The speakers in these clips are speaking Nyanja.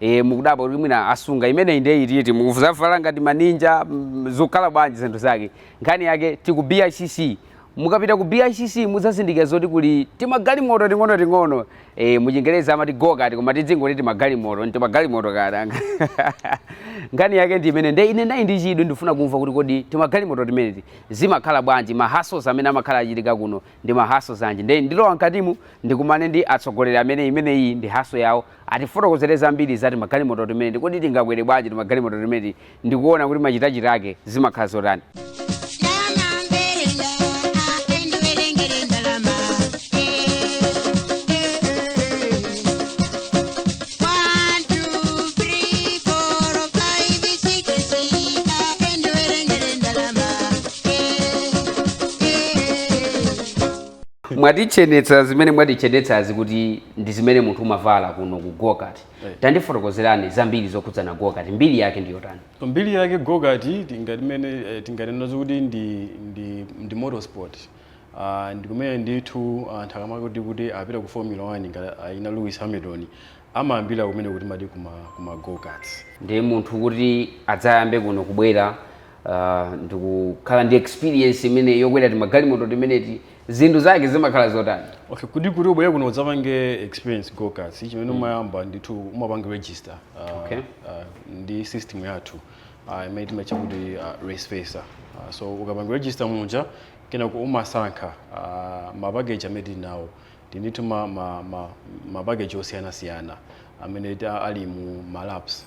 Eh, mukudabwa kuti mwina asunga imeneyi ndiye iti mukuzavala ngati maninja mm, zikukhala bwanji zinthu zake nkhani yake tiku bicc mukapita ku bicc mudzazindikira zoti kuli timagalimoto ting'onoting'ono eh, muchingereza amati gokati koma tidzingoti timagalimoto ntimagalimoto koma nkhani yake ndi imene ndiye ine ndili ndi chidwi ndifuna kumva kuti kodi timagalimoto timeneti zimakhala bwanji mahasos amene amakhala achitika kuno ndi mahasos anji ndiye ndilowa mkatimu ndikumane ndi atsogoleri amene imeneyi ndi haso yawo Atifotokozere zambiri za timagalimoto timeneti. Kodi tingakwere bwanji timagalimoto timeneti ndi kuona kuti machitachita ake zimakhala zotani? mwatichenetsa zimene mwatichenetsazi kuti ndi zimene munthu umavala kuno ku gokati Right. tandifotokozerani zambiri zokhudzana gokati mbiri yake ndi yotani mbiri yake gokati tingatimene eh, tinganenazo kuti ndi ndi ndi motorsport uh, ndi kumene ndithu anthu akamati kuti apita ku formula 1 ngati ayina lewis hamilton amayambira kumene kuti timati kuma kuma gokats ndiye munthu kuti adzayambe kuno kubwera uh, ndikukhala ndi experience imene yokwera timagalimoto timeneti zinthu zake zimakhala zotani okay kuti kuti ubwere kuno udzapange experience gokats ichi chimene umayamba ndithu umapanga register uh, Okay. uh, ndi system yathu uh, imene timatcha kuti uh, race facer uh, so ukapanga register muja kenako umasankha uh, mapakeji amene tili nawo tili ndithu ma, ma, ma, mapakeji osiyanasiyana amene ta- ali mu malaps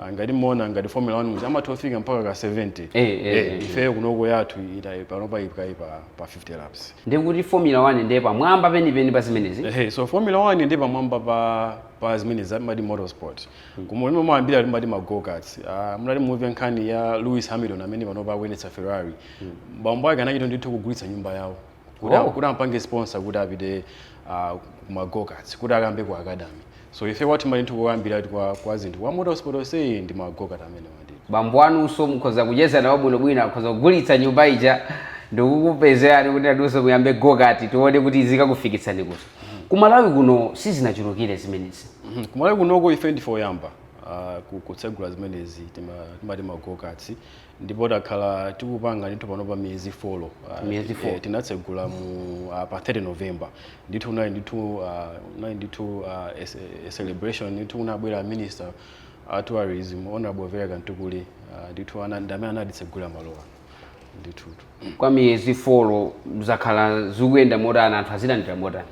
Ah, ngati muona ngati formula one muja amatha kufika mpaka ka 70 Eh, eh, eh. ifeyo kunoko yathu itayi panopa ipkayi pa, pa 50 laps ndikuti formula 1 ndiye pamwamba penipeni pa zimenezi Ehe, so formula 1 ndi pamwamba pa pa zimenezi amati motorsport koma kumene mumayambira timati magokats uh, munali movie nkhani ya lewis hamilton amene panopa akuyendetsa ferrari bambo ake anachita ndithu kugulitsa nyumba yawo kuti Wow. kuti ampange sponsor kuti apite ah, ku magokats kuti akayambe ku academy so ife wathu mali ndithu koyambira kwa kwa zinthu kwa motorsport onse ndi magokat amene ndithu bambo anuso mukhoza kucheza nawo bwinobwino akhoza kugulitsa nyumba ija ndikukupezerani kuti anuso muyambe gokati tione kuti zikakufikitsani kuti ku malawi kuno sizinachulukire zimenezi Mhm. kumalawi kunoko ife ndife oyamba ah, ku- kutsegula zimenezi tima- timati magokatsi ndipo takhala tikupanga ndithu panopa miyezi folo ah, Miyezi four. eh, tinatsegula mu ah, pa 30 november ndithu kunali ndithu ah, kunali ndithu ah, a ce- a celebration ndithu kunabwera minister a tourism honorable vera kamtukule ah, ndithu ana- ndi amene anatitsegulira malowa ndithu kwa miyezi folo zakhala zikuyenda motani anthu azilandira motani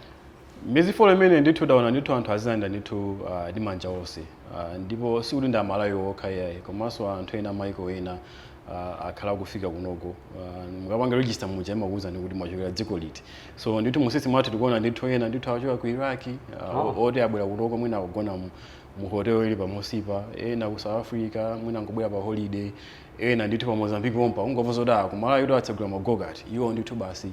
Miyezi 4 imeneyi ndithu taona ndithu anthu azilandira ndithu ah, ndi manja onse Ah, ndipo sikuti ndi amalawi okha iyayi komanso anthu ena maiko ena ah, akhala akufika kunoko Ah, mukapanga register muja imakuwuzani kuti mwachokera dziko liti so ndithu mu system mwathu tikuona ndithu ena ndithu achoka ku Iraq ah, o- oti abwera kunoko mwina akugona mu- mu hotel ili pamunsipa ena ku south africa mwina nkubwera pa holiday ena ndithu pa mozambique pompa ungomva zoti ah, ku Malawi ko atsegula ma go-kart iwo ndithu basi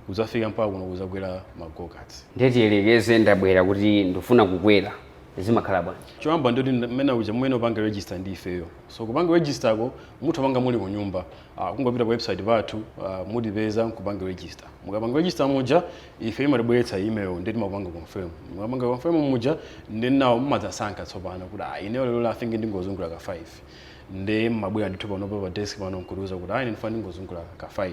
kudzafika mpaka kuno kudzakwera ma go-karts ndiye tiyelekeze ndabwera kuti ndifuna kukwera zimakhala bwanji choyamba ndoti mmene uja mmene upanga register ndi ifeyo so kupanga register ko mutha opanga muli kunyumba uh, kungopita pa website pathu uh, mutipeza nkupanga register mukapanga register muja ife imatibweretsa email nde timapanga confirm mukapanga confirm muja nde inu now mumadzasankha tsopano kuti ah, ineyo lero I think ndingozungula ka 5 nde mmabwera ndithu panopa pa desk pano nkutiuza kuti ayi ndifuna ndingozungula ka 5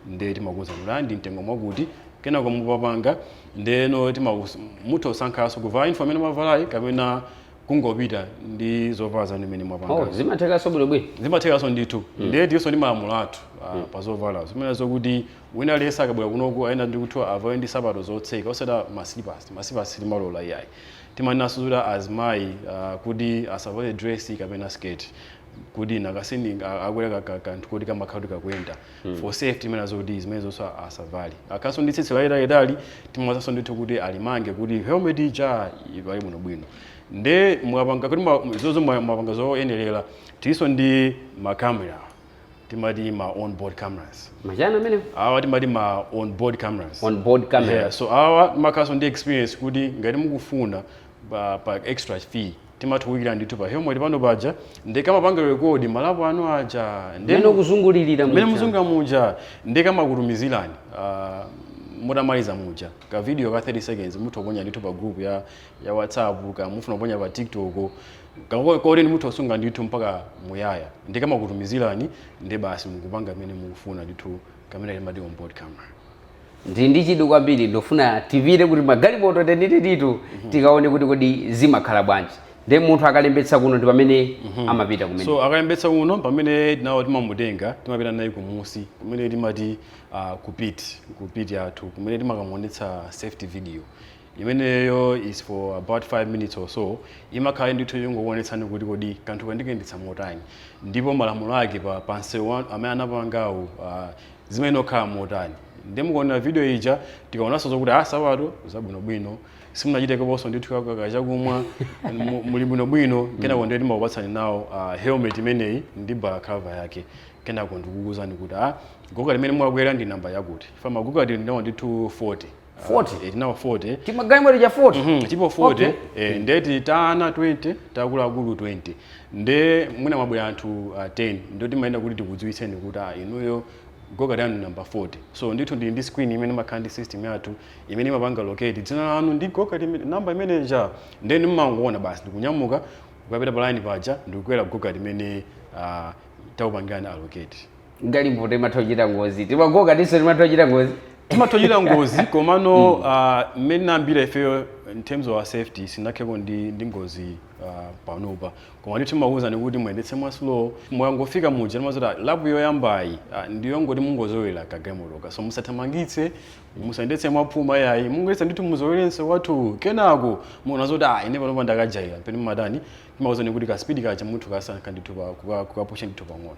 nde timakuuzani kuti ayi ndi mtengo mwakuti kenako mukapanga ndeno timaus- mutha kusankhanso kuvala uniform imene mwavalayi kapena kungopita ndi zovala zanu zimene mwapanga oh zimathekanso bwinobwino zimathekanso ndithu ndiye tinso ndi malamulo athu ah, pa zovala zimene zokuti wina aliyense akabwera kunoko ayenera ndikuti avale ndi sapato zotseka osati ma slippers ma slippers timalola iyayi Timanenanso zoti azimayi uh, kuti asavale dress kapena skirt kuti nanga si akwera ka, ka, kanthu koti kamakhala kuti kakuyenda mm. for safety timanena zoti zimenezonso asavale akhalanso ndi tsitsi laitalitali timawauzanso ndithu kuti alimange kuti helmet ija ivale bwinobwino nde mwapanga kuti ma- zozo mwa- mwapanga zoyenerera tilinso ndi makamera timati ma on board cameras machani amenewo awa timati ma on board cameras on board camera yeah, so awa amakhalanso ndi experience kuti ngati mukufuna pa, pa extra fee timatha oyikira ndithu pa helmet pano paja nde kamapanga record malapo anu aja ndi mmene ukuzungulirira mmene muja. muzungula muja nde kamakutumizirani ah, mutamaliza muja ka video ka 30 seconds mutha oponya ndithu pa group ya, ya whatsapp kaya mufuna kuponya pa tiktok Koti inu mutha osunga ndithu mpaka muyaya nde kamakutumizirani nde basi mukupanga mmene mukufuna ndithu kamene timati on board camera. Ndili ndi chidwi kwambiri ndifuna tipite ku timagalimoto tenitenito tikaone kuti kodi zimakhala bwanji nde munthu akalembetsa kuno ndi pamene amapita kumene So akalembetsa kuno pamene now timamutenga timapita naye kumunsi kumene timati ah, ku pit ku pit yathu kumene timakamuonetsa safety video Imeneyo is for about 5 minutes or so imakhala ndithu yongokuonetsani kuti kodi kanthuka ndikayendetsa motani ndipo malamulo ake pa, pa msewu wa- amene anapangawu ah, zimene okhala motani nde mukaonera video ija tikaonanso zokuti ah sapato zabwinobwino simunachiteko ponso ndithu kakaka chakumwa mu- muli bwinobwino kenako ndiye timakupatsani now ah, helmet imeneyi ndi balaclava yake kenako ndikukuuzani kuti ah go-kart limene mwakwera ndi namba yakuti for ma go-kart tili nawo ndithu 40 40 eh, tili nawo 40 timagalimoto tija 40 mm -hmm, tilipo 40 okay. eh, mm. nde kuti ta ana 20 ta akuluakulu 20 nde mwina mwabwera anthu uh, ah, 10 nde timayenera kuti tikudziwitseni kuti ah, inuyo go-kart yanu number 40 so ndithu tili ndi screen imene imakhala ndi system yathu imene imapanga allocate dzina lanu ndi go-kart number imene ija nde mumangoona basi ndikunyamuka kupita pa line paja ndikukwera go-kart imene uh, ah, takupangirani allocate galimoto imatha kuchita ngozi tima go-kartinso timatha kuchita ngozi timatha kuchita ngozi komano mm. ah, mmene tinayambira ifeyo in terms of our safety sitinakhaleko ndi, ndi ngozi uh, panopa koma ndithu timakuwuzani kuti muyendetse mwaslow mwangofika muja timadziwa zoti lap yoyambayi uh, ndiyongoti mungozolowera kagalimotoka so musathamangitse musayendetse mwaphuma yayi mungoyesa ndithu muzolowere msewu wathu kenako mukaona zoti ah, ine panopa ndakajaira pamene mumatani timakuwuzani kuti kaspidi kaja mutha kusankha ndithu kukapusha ndithu pang'ono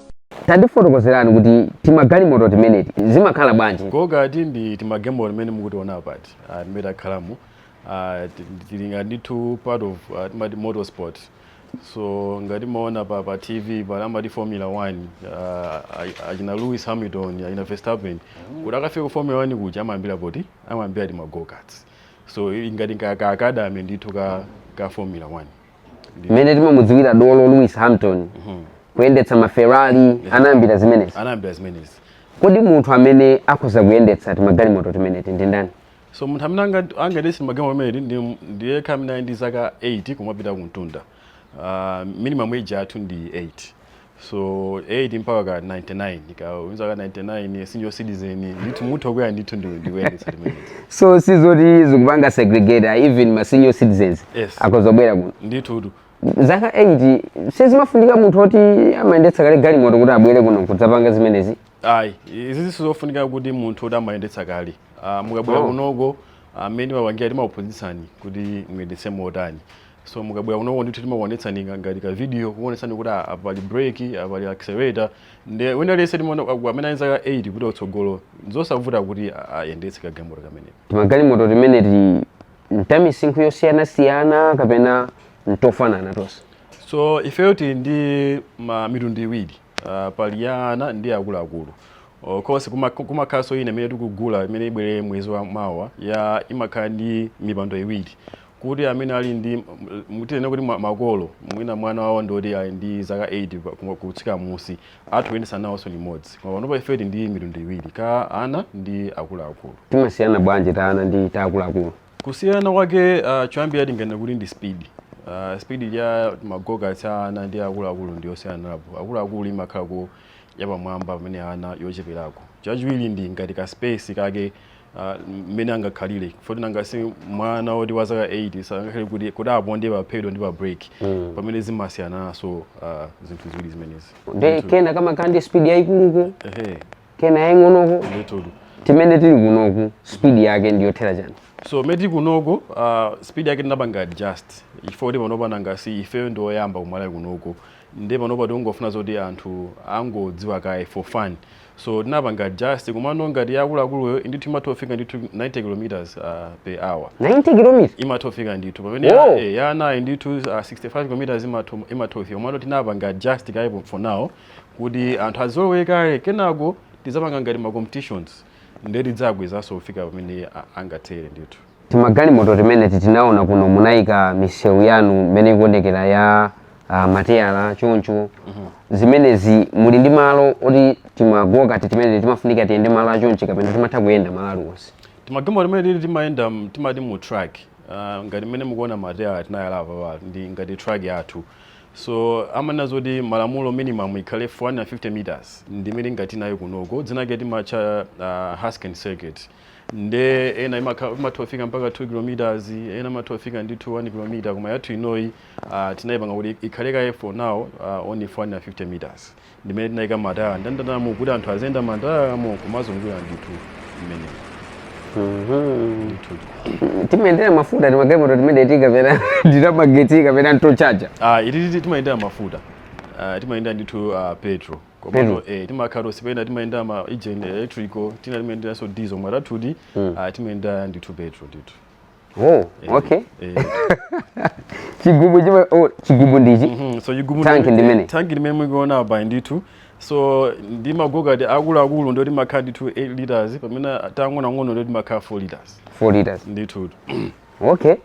tandifotokozerani kuti timagalimoto timeneti zimakhala bwanji go-kart ndi timagalimoto timene mukutiona apati ah, timene takhalamu ah, ti- tili ngati ndithu part of ah, timati motorsport so ngati mumaona pa, pa tv pali amati formula 1 ah, a- achina lewis hamilton achina verstappen kuti akafike ku formula 1 kuja amayambira poti amayambira tima go-karts so ili ngati ka, ka academy ndithu ka, ka formula 1 mmene timamudziwira dolo lewis hamilton kuyendetsa maferrari anayambira zimenezi anayambira zimenezi kodi munthu amene akhoza kuyendetsa timagalimoto timeneti ndi ndani so munthu amene anga- angayendetse timagalimoto timeneti ndi yekha amene ali ndi zaka 8 kumapita kumtunda uh, minimum age yathu ndi 8 so 8 mpaka ka 99 kaya uli ndi zaka 99 senior citizen ndithu mutha kubwera ndithu ndi ndikuyendetsa timeneti so sizoti zikupanga segregate ah, even ma senior citizens Yes. akhoza kubwera kuno ndithu tu zaka 8 sizimafunika munthu oti amayendetsa kale galimoto kuti abwere kuno kudzapanga zimenezi ayi izi sizofunika kuti munthu oti amayendetsa kale Ah, mukabwera Oh. kunoko mmene timapangira timakuphunzitsani kuti muyendetse motani so mukabwera kunoko ndithu timakuonetsani nga- ngati ka video kukuonetsani kuti ah, apa pali brake apa pali accelerator nde wina aliyense timaona ah, amene ali zaka 8 kupita kutsogolo nzosavuta kuti ah, ayendetse kagalimoto kameneka timagalimoto timeneti n'tamisinkhu yosiyanasiyana kapena n'tofanana tonse so ifeyo tili ndi ma mitundu iwiri uh, pali ya ana ndi akuluakulu of course kuma- kumakhalanso ina imene tikugula imene ibwere mwezi wa mawa ya imakhala ndi mipando iwiri kuti amene ali ndi tinene kuti makolo mwina mwana wawo ndi oti ali ndi zaka 8 kutsika m'musi atha kuyendetsa nawonso limodzi koma panopa ife tili ndi mitundu iwiri ka ana ndi akuluakulu. Timasiyana bwanji ta ana ndi ta akuluakulu? Kusiyana kwake uh, choyambira tinganene kuti ndi speed uh, speed ya ma go-kart a ana ndi akuluakulu ndi yosiyanirapo akuluakulu imakhalako yapamwamba pamene ana yocheperako chachiwiri ndi ngati ka space kake Ah, mmene angakhalire chifukwa choti nanga si mwana woti wa zaka 8 sangakhale kuti kuti aponde pa pedal ndi pa brake mm. pamene zimasiyanaso uh, ah, zinthu ziwiri zimenezi nde kena kamakhala ndi speed yayikuluko kena yaying'onoko timene tili kunoku speed yake ndiyothera chani so timene tili kunoko uh, speed yake tinapanga adjust chifukwa choti panopa nanga si ifeyo ndioyamba ku Malawi kunoko nde panopa tikungofuna zoti anthu angodziwa kaye for fun so tinapanga adjust komano ngati ya akuluakuluyo ndithu imatha kufika ndithu 90 kilometers ah, per hour 90 kilometers imatha kufika ndithu pamene ya, Wow. eh, ya anayi ndithu ah, 65 kilometers imatha imatha kufika komano tinapanga adjust kaye po- for now kuti anthu azolowere kaye kenako tidzapanga ngati ma competitions nde tidzakwezanso kufika pamene a- angathere ndithu Timagalimoto timeneti tinaona kuno munayika misewu yanu mmene ikuonekera ya ah, mateyala choncho zimenezi muli ndi malo oti timagokati timeneti timafunika tiyende malo achonchi kapena timatha kuyenda malo aliwonse timagalimoto timeneti timayenda m- timati mu track uh, ngati mmene mukuona mateyala tinayala apapa ndi ngati track yathu so amanena zoti malamulo minimum ikhale 450 meters ndi imene tili nayo kunoko dzinake timatcha uh, haskin circuit nde ena imakha- imatha kufika mpaka 2 km ena imatha kufika ndithu 1 km koma yathu inoyi ah, tinayipanga kuti ikhale kaye for now ah, only 450 meters ndimene tinayika mataya ndandamo kuti anthu aziyenda matayamo kumazungulira ndithu mmene. Timayendera mafuta timagalimoto timeneti kapena ndi tamagetsi kapena n'totchaja ah, ititi timayendera mafuta ah, timayendera ndithu ah, petrol komano mm. eh, timakhala toti tina timayendera ma engine electrical tina timayenderanso diesel koma tathuti mm. ah, timayendera ndithu petrol ndithu Oh, eh, okay. Eh. chigubu chima oh, chigubu ndichi. Mm -hmm. So chigubu tanki ndi imene. Tanki ndi imene mukuiona apa ndithu. So timagokati takulutakuluto timakhala ndithu 8 liters pamene tang'onotang'onoto timakhala 4 liters. 4 liters. Ndithu. okay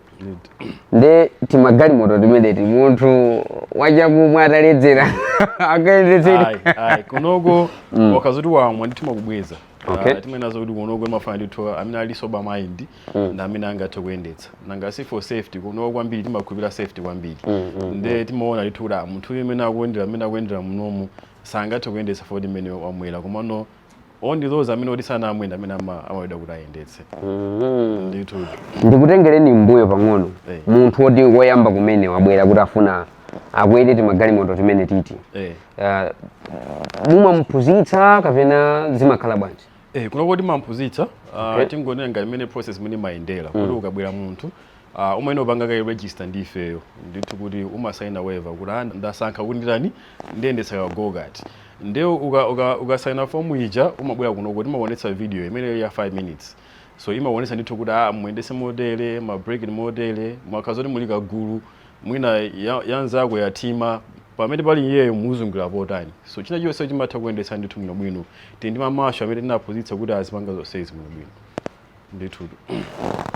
nde timagalimoto timeneti munthu wachakumwa ataledzera angayendetse Ayi, ayi, kunoko ukakhala zoti wamwa ndithu timakubweza Okay. Ah, timanena zoti kunoko timafuna ndithu amene ali sober mind ndi amene angathe kuyendetsa nanga si for safety kunoko kwambiri timakhulupirira safety kwambiri nde timaona ndithu kuti ah, munthu uyu amene akuyendera amene akuyendera munomu sangathe kuyendetsa chifukwa cha mmene wamwera komano only those amene oti sanamwe ndi amene ama- amaloledwa kuti ayendetse ndithu ndikutengereni mbuyo pang'ono Eh. munthu woti woyamba kumene wabwera kuti afuna akwere timagalimoto timenetiti eh. Ah, mumamuphunzitsa kapena zimakhala bwanji Eh, kunoko timamphunzitsa uh, Okay. tingonena ngati imene process imene imayendera kuti ukabwera munthu Aaa umayenera kupanga kaye register ndi ifeyo ndithu kuti umasaina waiver kuti aa ndasankha kuti nditani ndiyendetsa ka gokati nde uka uka ukasaina form ija umabwera kunoko timakuonetsa video imeneyo ya 5 minutes so imakuonetsa ndithu kuti aa muyendetse motere ma brake ndi motere mukakhala zoti muli kagulu mwina ya ya nzako yathima pamene pali iyeyo muzungulira potani so china chonse chimatha kuyendetsa ndithu bwinobwino tili ndi ma marshal amene tinaphunzitsa kuti azipanga zonsezi bwinobwino. ndithutu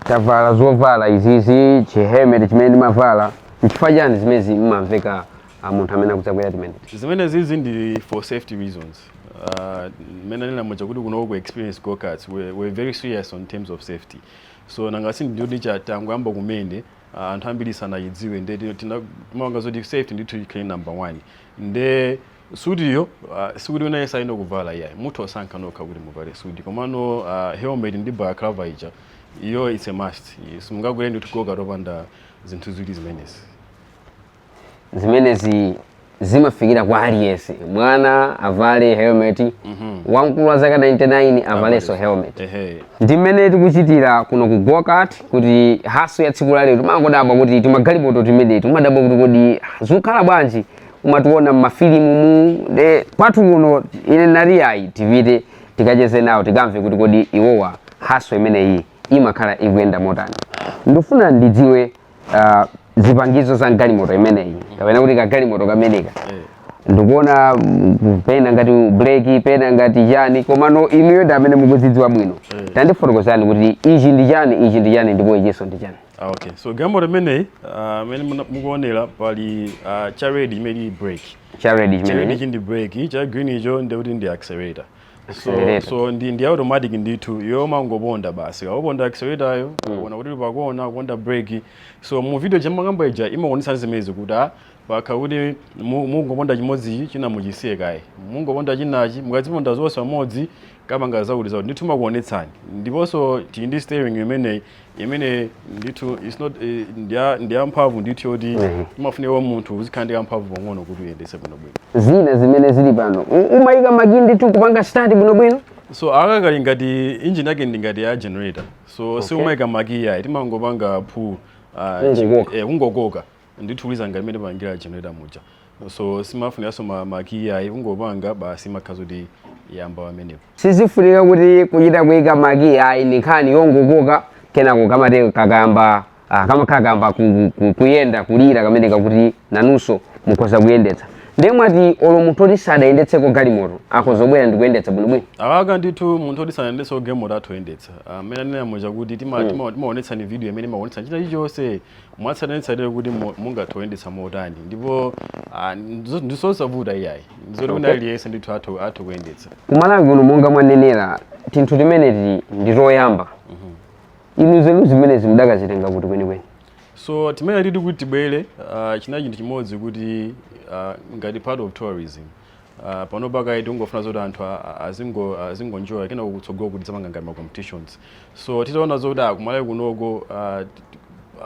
tavala zovala izizi chihelmet chimene ndimavala nchifukwa chani zimezi mmamveka munthu amene akudzakwera timeneti zimene zizi ndi for safety reasons Uh, mmene ndanena muja kuti kuno ku experience go karts we're, we're very serious on terms of safety so nanga si ndiyoti chatangoyamba kumene uh, anthu ambiri sanayidziwe nde tina- tina- timapanga zoti safety ndithu ikhale number one nde Suit yo sikuti wina aliyense ayenera kuvala iyayi. Mutha kusankha nokha kuti muvale suit. Komano helmet ndi balaclava ija, iyo it's a must. Simungakwere ndithu gokat opanda zinthu ziwiri zimenezi. Zimenezi zimafikira kwa aliyense. Mwana avale helmet, mhm. wamkulu wa zaka 99 avalenso helmet. Ndi mmene tikuchitira kuno ku Gokat kuti haso ya tsiku la lero timangodabwa kuti timagalimoto timeneti timadabwa kuti kodi zikukhala bwanji umationa mmafilimu mu nde kwathu kuno ine nali ayi tipite tikacheze nawo tikamve kuti kodi iwowa haso imeneyi imakhala ikuyenda motani ndifuna ndidziwe ah, zipangizo za mgalimoto imeneyi kapena kuti kagalimoto kameneka ndikuona mm, pena ngati breki pena ngati chani komano inuyo ndi amene mukuzidziwa bwino tandifotokozani kuti ichi ndi chani ichi ndi chani ndipo ichinso ndi chani Ah, okay. So galimoto imeneyi ah, amene muna- mukuonera pali ah, cha red imene ili brake. cha red Cha red chimene ichi ndi brake, cha green icho ndi kuti ndi accelerator. So, Accelerator. so ndi, ndi automatic ndithu yomangoponda basi ukaponda acceleratoryo ona kuti pakona uponda brake so mu video ndimakamba ija imaonesa zimezi kuti ah, pakakhala kuti mu- mungoponda chimodzichi china muchisiye kaye mungoponda chinachi mukaziponda zonse pamodzi kapanga zakuti zakuti ndithu imakuonetsani ndiponso tili ndi steering imeneyi imene ndithu it's not eh, ndiya- ndiyamphamvu ndithu yoti Mhm. imafunika kwa munthu uzikhala ndi kamphamvu pang'ono kuti uyendetse bwinobwino zina zimene zili pano U- umayika makiyi ndithu kupanga start bwinobwino so aka kali ngati engine yake ndi ngati ya generator so si umayika makiyi ayi timangopanga phu Kungokoka. kungokoka ndithu kuliza ngati mmene pangira generator muja so simafunikanso ma- makiyi ayi kungopanga basi imakhala zoti yayamba pamenepo sizifunika kuti kuchita kuika makiyi ayi ni nkhani yongokoka kenako kamati kakayamba ah, kamakhala kayamba ku- ku- kuyenda kulira kamene kakuti nanunso mukhoza kuyendetsa ndiye mwati olo munthu oti sadayendetseko galimoto akhoza kubwera ndi kuyendetsa bwinobwino awaka ndithu munthu oti sanayendetseko galimoto atha kuyendetsa mmene anena muja kuti tima- tima- timaonetsani video imene imaonetsa china chilichonse mwatsatanetsatane kuti mu- mungathe kuyendetsa motani ndipo ah, ndizo- ndizosavuta iyayi ndizoti wina aliyense ndithu atha atha kuyendetsa kumalawi kuno monga mwanenera tinthu timeneti ndi toyamba inu nzeru zimenezi mudakazitenga kuti kwenikweni so timenetiti kuti tibwere ah, chinali chinthu chimodzi kuti ah, ngati part of tourism Uh, panopa kaye tikungofuna zoti anthu azingonjoya kenako kutsogoloku tidzapanga ngati ma competitions so titaona zoti kumalawi kunoko uh,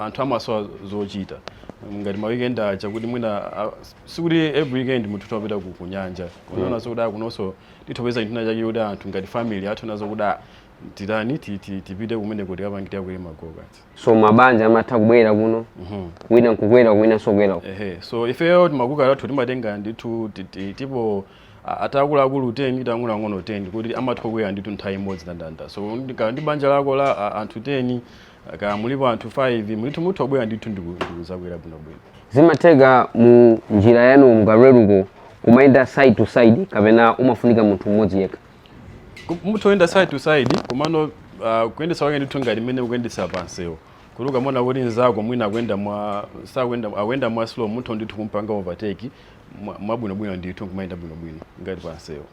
anthu amasowa zochita ngati ma weekend aja kuti mwina uh, sikuti every weekend munthu timapita ku ku nyanja tinaona zoti kunonso titha kupeza chinthu china chake kuti anthu ngati family atha kuona zokuti ah, titani ti- ti- tipite kumeneko tikapangitira kuli ma go-kart so mabanja amatha kubwera kuno wina nkukwera winanso kukwera uko. ehe so ifeyo tima go-kart tathu timatenga ndithu ti- ti- tilipo a- takuluakulu 10 ndi tang'onoang'ono 10 kuti amatha kukwera ndithu nthawi imodzi ndandanda so ndi- ka- ndi banja lako la a- anthu 10 kaya mulipo anthu 5 mulithu mutha kubwera ndithu ndiku- ndikuzakwera bwinobwino zimatheka mu njira yanu mukaleruko kumayenda side to side kapena umafunika munthu mmodzi yekha Ku- mutha kuyenda side to side komano uh, kuyendesa kwake ndithu ngati mmene ukuyendesa pamsewu kuti ukamaona kuti nzako mwina akuyenda mwa sakuyenda akuyenda mwa slow mutha ndithu kumpanga overtake mwa- mwabwinobwino ndithu kumayenda bwinobwino ngati pamsewu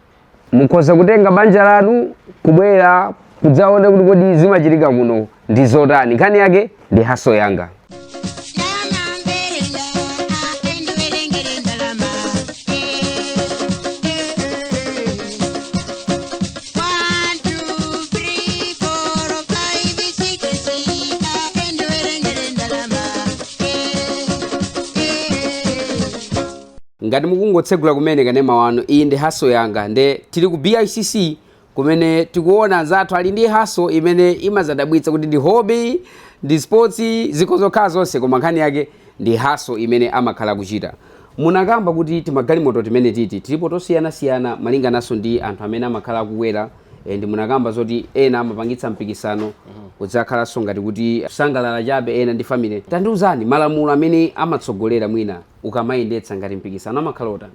mukhoza kutenga banja lanu kubwera kudzaona kuti kodi zimachitika kuno ndi zotani nkhani yake ndi hustle yanga ngati mukungotsegula kumene kanema wanu iyi ndi hustle yanga nde tili ku bicc kumene tikuona anzathu ali ndi hustle imene imazadabwitsa kuti ndi hobby ndi sports zikhoza kukhala zonse koma nkhani yake ndi hustle imene amakhala akuchita munakamba kuti timagalimoto timenetiti tilipo tosiyanasiyana malingananso ndi anthu amene amakhala akukwera and munakamba zoti ena amapangitsa mpikisano kudzakhalanso ngati kuti kusangalala chabe ena ndi family tandiuzani malamulo amene amatsogolera mwina ukamayendetsa ngati mpikisano amakhala otani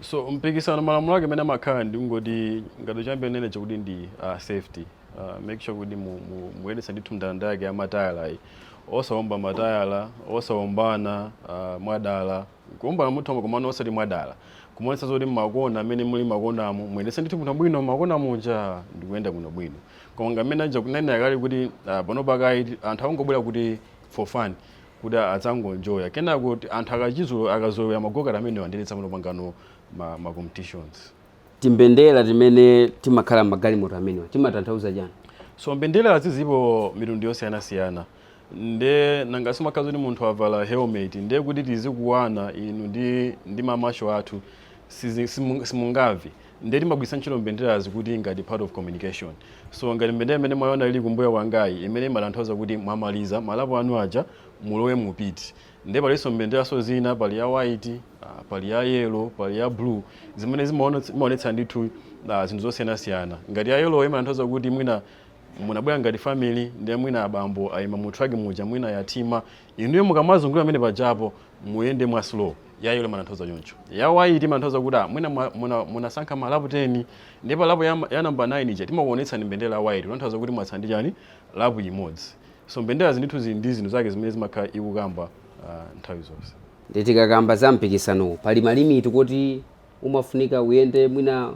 So mpikisano malamulo ake amene amakhala ndingoti ngati choyambirira ndinene chakuti ndi uh, safety uh, make sure kuti mu- mu- muyendetsa ndithu mndandanda wake wa matayalayi osawomba matayala osawombana uh, mwadala kuwombana mutha komano osati mwadala kumaonetsa zoti mmakona amene muli makonamo muyendetse ndithu bwinobwino makona muja ndikuyenda bwinobwino koma ngamene aja kunena kale kuti uh, pano pakayi anthu akungobwera kuti for fun kuti adzangonjoya kenako anthu akachizulo akazolowera magokati amenewa nde tidzamapangano ma, ma competitions timbendera timene timakhala mmagalimoto amenewa timatanthauza chani so mbenderazi zilipo mitundu yosiyanasiyana nde nanga si imakhala zoti munthu avala helmet nde kuti tizikuwani inu ndi, ndi mamashalo athu sizi- simu- simungamve ndiye timagwiritsa ntchito mbenderazi kuti ngati part of communication so ngati mbendera imene mwaona ili kumbuyo kwangayi imene imatanthauza kuti mwamaliza malapo anu aja mulowe mu pit ndiye palinso mbenderanso zina pali ya white ah, pali ya yellow pali ya blue zimene zimaonetsa zimaonetsa ndithu ah, zinthu zosiyanasiyana ngati ya yellow imatanthauza kuti mwina munabwera ngati family ndiye mwina abambo ayima mu track muja mwina yathima inuyo mukamazungulira amene pajapo muyende mwa slow ya yellow imatanthauza choncho ya white imatanthauza kuti ah, mwina mwa- muna- munasankha malapu 10 nde pa lapu ya, ya namba 9 ija timakuonetsani mbendera ya white kutanthauza kuti mwatsala ndi chani lapu imodzi so mbenderazi ndithu zili ndi zinthu zake zimene zimakhala zikukamba ah, nthawi zonse nde tikakamba za mpikisanowu pali malimiti kuti umafunika uyende mwina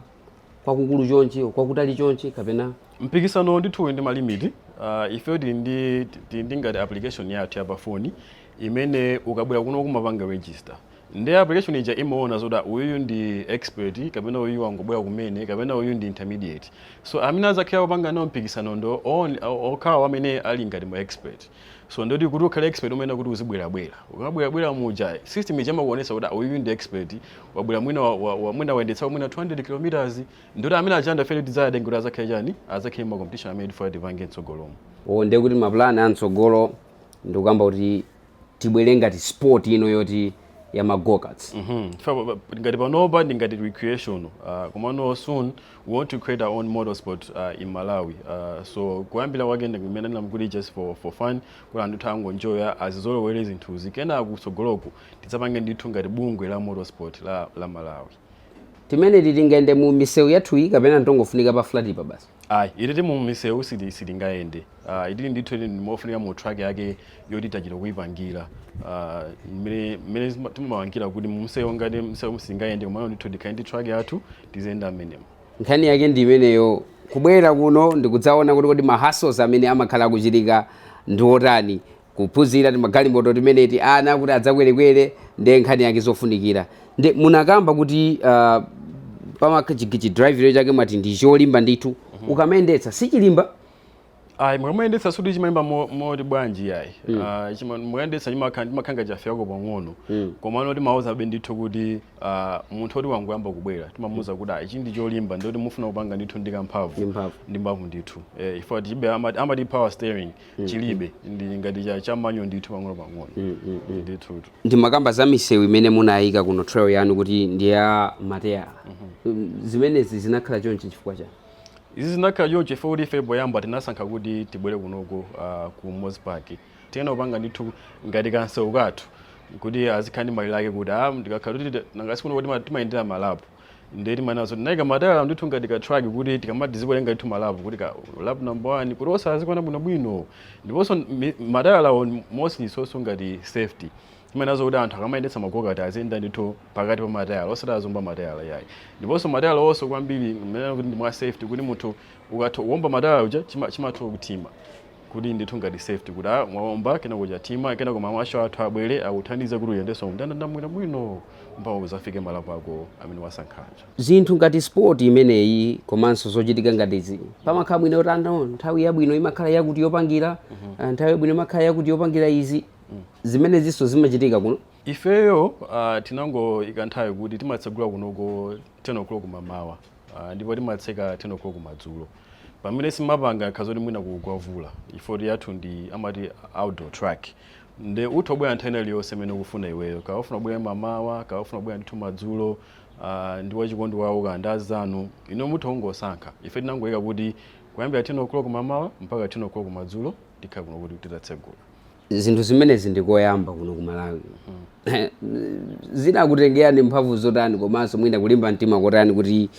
kwakukulu chonchi kwakutali chonchi kapena mpikisano ndithu uli ndi malimiti uh, ife tili ndi tili ndi ngati application yathu ya pa foni imene ukabwera kuno umapanga register nde application ija imaona zoti uyuyu ndi expert kapena uyuyu wangobwera kumene kapena uyuyu ndi intermediate so amene azakhala akupanga nawo mpikisano ndi on- o- okhawo amene ali ngati ma expert so ndekuti kuti ukhale expert umayenera kuti uzibwerabwera ukamabwerabwera muja system ija imakuonesa kuti uyu ndi expert wabwera mwina wa- wa- wa- mwina wayendetsa mwina 200 kilometers ndekuti amene achanda fere tidzayatenge kuti azakhale chani azakhale mma competition amene tifuna tipange mtsogolomo o ndiye kuti mapulani a mtsogolo ndikukamba kuti tibwere ngati sport ino yoti ya magokats Mhm. Fa- pa- pa- ngati panopa ndi ngati recreation uh, komano soon we want to create our own motorsport uh, in malawi uh, so kuyambira kwake nde mmene ndinankati just for, for fun kuti anthu athu angonjoya azizolowere zinthuzi kenako kutsogoloku tidzapange ndithu ngati bungwe la motorsport la, la malawi timeneti tingayende mu misewu yathuyi kapena ntongofunika pa flat pa basi ayi ititi mu misewu sili- silingayende Uh, ikhale ndithu ndi yofunika mu track yakeyake yoti tachita kuipangira mmene uh, mmene timapangira kuti mumsewu ngati msewu musingayende koma ndithu tikhale ndi track yathu tiziyenda mmenemo nkhani yake ndi imeneyo kubwera kuno ndikudzaona kuti kodi mahasos amene amakhala akuchitika ndi otani kuphunzira timagalimoto timeneti ana kuti adzakwerekwere ndi nkhani yake zofunikira ndi munakamba kuti uh, pamachigichi drive chake mwati ndi cholimba ndithu ukamayendetsa sichilimba ayi mukamayendetsa sikuti chimalimba mo- moti bwanji yayi Ah, chima- mukayendetsa chimakha- chimakhala ngati chafewako pang'ono komano timawuzabe ndithu kuti ah, munthu oti wangoyamba kubwera timamuuza kuti ah, ichi ndi cholimba ndikuti mufuna kupanga ndithu ndi kamphamvu Ndi mphamvu. ndi mphamvu ndithu Eh, chifukwa chilibe amati amati power steering chilibe ndi ngati cha- chamanyo ndithu pang'ono pang'ono ndithu ndimakamba za misewu imene munayika kuno trail yanu kuti ndi ya matayala zimenezi zinakhala chonchi chifukwa chani Izi zinakhala chonchi chifukwa kuti ife poyamba tinasankha kuti tibwere kunoko ah, ku Mos Park. Tinayenera kupanga ndithu ngati kansewu kathu kuti kazikhala ndi malire ake kuti ah, ndikakhala kuti tita- nanga sikuno kuti tima- timayendera malapu. Ndiye timanena zoti tinaika matayala ndithu ngati ka track kuti tikamati tikuwerenga ndithu malapu kuti ka lap number one kuti uzikaona bwinobwino. Ndiponso mi- matayalawo mostly ndinso ngati safety. Timanenaso kuti anthu akamayendetsa ma gokati aziyenda ndithu pakati pa matayala osati aziomba matayala iyayi. Ndiponso matayala awonso kwambiri timanena kuti ndi mwa safety kuti munthu ukaomba matayala aja chima chimatha kuthima kuti ndithu ngati safety kuti a mwaomba kenako chathima kenako ma marshal athu abwere akuthandize kuti uyendenso mndandanda bwino bwino mpaka uzafike malapu ako amene wasankha aja. Zinthu ngati sport imeneyi komanso zochitika ngati izi pamakhala mwina kuti anthu nthawi yabwino imakhala yakuti yopangira nthawi yabwino imakhala yakuti yopangira izi mm. zimenezinso zimachitika kuno ifeyo uh, tinangoika nthawi kuti timatsegula kunoko 10 o'clock mamawa uh, ndipo timatseka 10 o'clock madzulo pamene sitimapanga nkha za kuti mwina kugwa mvula chifukwa choti yathu ndi amati outdoor track nde utha kubwera nthawi ina iliyonse imene ukufuna iweyo kaya ufuna kubwera mamawa kaya ufuna kubwera ndithu madzulo uh, ndi wachikondi wawo kaya ndi anzanu ino mutha kungosankha ife tinangoika kuti kuyambira 10 o'clock mamawa mpaka 10 o'clock madzulo tikhala kuno kuti titatsegula zinthu zimenezi ndi koyamba kuno ku malawi zinakutengerani mphamvu zotani komanso mwina kulimba mtima kotani kuti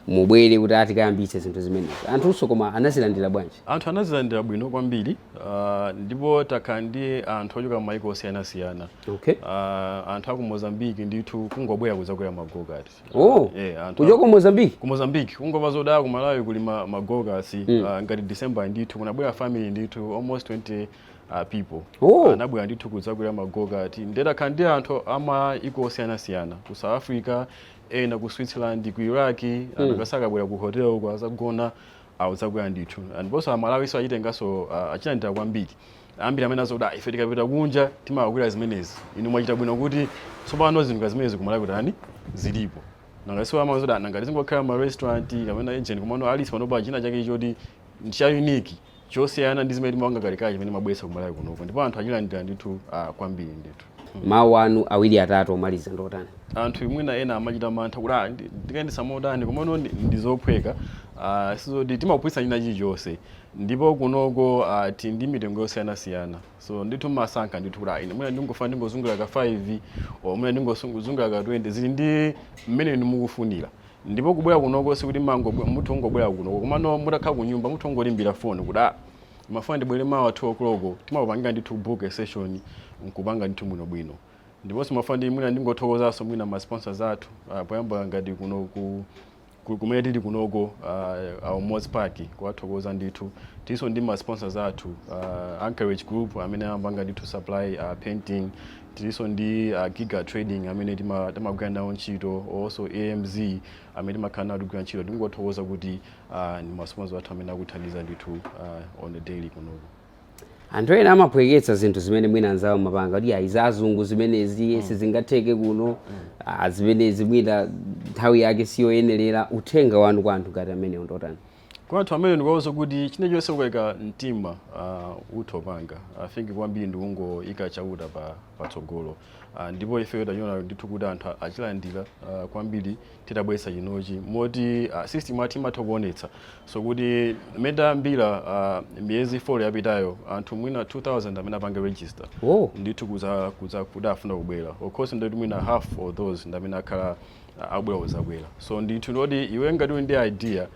mubwere kuti atikayambitse zinthu zimenezi anthunso koma anazilandira bwanji anthu anazilandira bwino kwambiri ah, ndipo takhala ndi anthu ochoka m'mayiko osiyanasiyana okay Ah, anthu aku mozambiki ndithu kungobwera kuzakwera magokati harvest oh. yeah, kuchoka ku mozambique ku mozambique kungomva zoti ah ku malawi kuli ma, ma go-karts mm. uh, ngati december ndithu kunabwera family ndithu almost 20 uh, people oh. anabwera uh, ndithu kudzakwera ma go-kart nde takhala ndi anthu amayiko osiyanasiyana ku south africa ena ku switzerland ku iraq mm. amasakabwera ku hotel kwawo azagona abwera uzakwera ndithu ndiponso amalawinso achitenganso uh, achilandira kwambiri Ambiri amene amati kuti ah, ife tikapita kunja timakakwera zimenezi. Inu mwachita bwino kuti tsopano zinthu ngati zimenezi kumalawi kutani zilipo. Nanga si amati kuti ah, nanga tizingokhala ma restaurant kapena lodge komano at least pano pali china chake choti cha unique chosiyana ndi zimene timapanga kale kale chimene mwabweretsa kumalawi kunoko. Ndipo anthu achilandira ndithu ah, kwambiri ndithu. Mawu anu awiri atatu omaliza ndotani? anthu mwina ena amachita mantha kuti ah, ndi- ndikayendetsa motani komano ndi- ndizophweka ah, sizoti timaphunzitsa china chilichonse ndipo kunoko uh, tili ndi mitengo yosiyanasiyana so ndithu mumasankha ndithu kuti ine mwina ndingofuna ndingozungulira ka 5 or mwina ndingozungulira ka 20 zili ndi mmene inu mukufunira ndipo kubwera kunoko sikuti mango mutha kungobwera kunoko komano mutakhala ku nyumba mutha kungoimbira foni kuti ah ndimafuna ndibwere mawa 2 o'clock timakupangirani ndithu book a session nkupanga ndithu bwinobwino ndiponso ndimafuna ndi mwina ndingothokozanso mwina ma sponsors athu uh, poyamba ngati kuno ku kumene tili kunoko uh, our Moz Park kuwathokoza ndithu tilinso ndi ma sponsors athu uh, Anchorage Group amene amapanga ndithu supply uh, painting tilinso ndi uh, Giga Trading amene tima- timagwira nawo ntchito also AMZ amene timakhala nawo tikugwira ntchito tingowathokoza kuti uh, ndi ma sponsors athu amene akutithandiza ndithu uh, on the daily kunoko anthu ena amaphweketsa zinthu zimene mwina anzawo amapanga kuti ayi zazungu zimenezi mm. sizingatheke kuno mm. ah, zimenezi mwina nthawi yake siyoyenerera uthenga wanu kwa anthu ngati amenewo ndotani kwa anthu amene ndikuwauza kuti china chilichonse ukaika mtima uh, ah, utha upanga i uh, think kwambiri ndikungoika chauta pa patsogolo uh, ndipo ifeyo tachiona ndithu kuti anthu achilandira uh, kwambiri titabweretsa chinochi moti uh, system yathu imatha kuonetsanso kuti mmene tayambira uh, miyezi 4 yapitayo anthu mwina 2000 amene apanga register oh. ndithu kuza, kuza kuti afuna kubwera of course ndoti mwina half of those ndamene akhala uh, abwera kuzakwera so ndithu ndoti iwe ngati uli ndi idea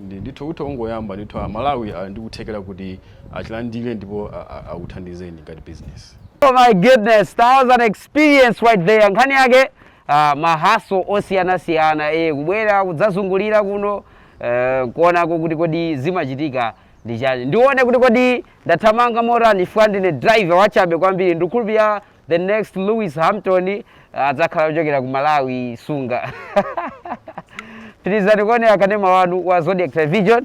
ndi- ndithu utha kungoyamba ndithu amalawi ali ndi kuthekera kuti achilandire ndipo a- a- akuthandizeni ngati business Oh my goodness, that was an experience right there. Nkhani yake uh, ma hustle osiyanasiyana eh, kubwera kudzazungulira kuno eh, kuonako kuti kodi zimachitika ndi chani ndione kuti kodi ndathamanga motani chifukwa ndine driver wachabe kwambiri ndikukhulupirira the next lewis hamilton eh, adzakhala ochokera ku malawi sunga pitirizani kuonera kanema wanu wa zodiak television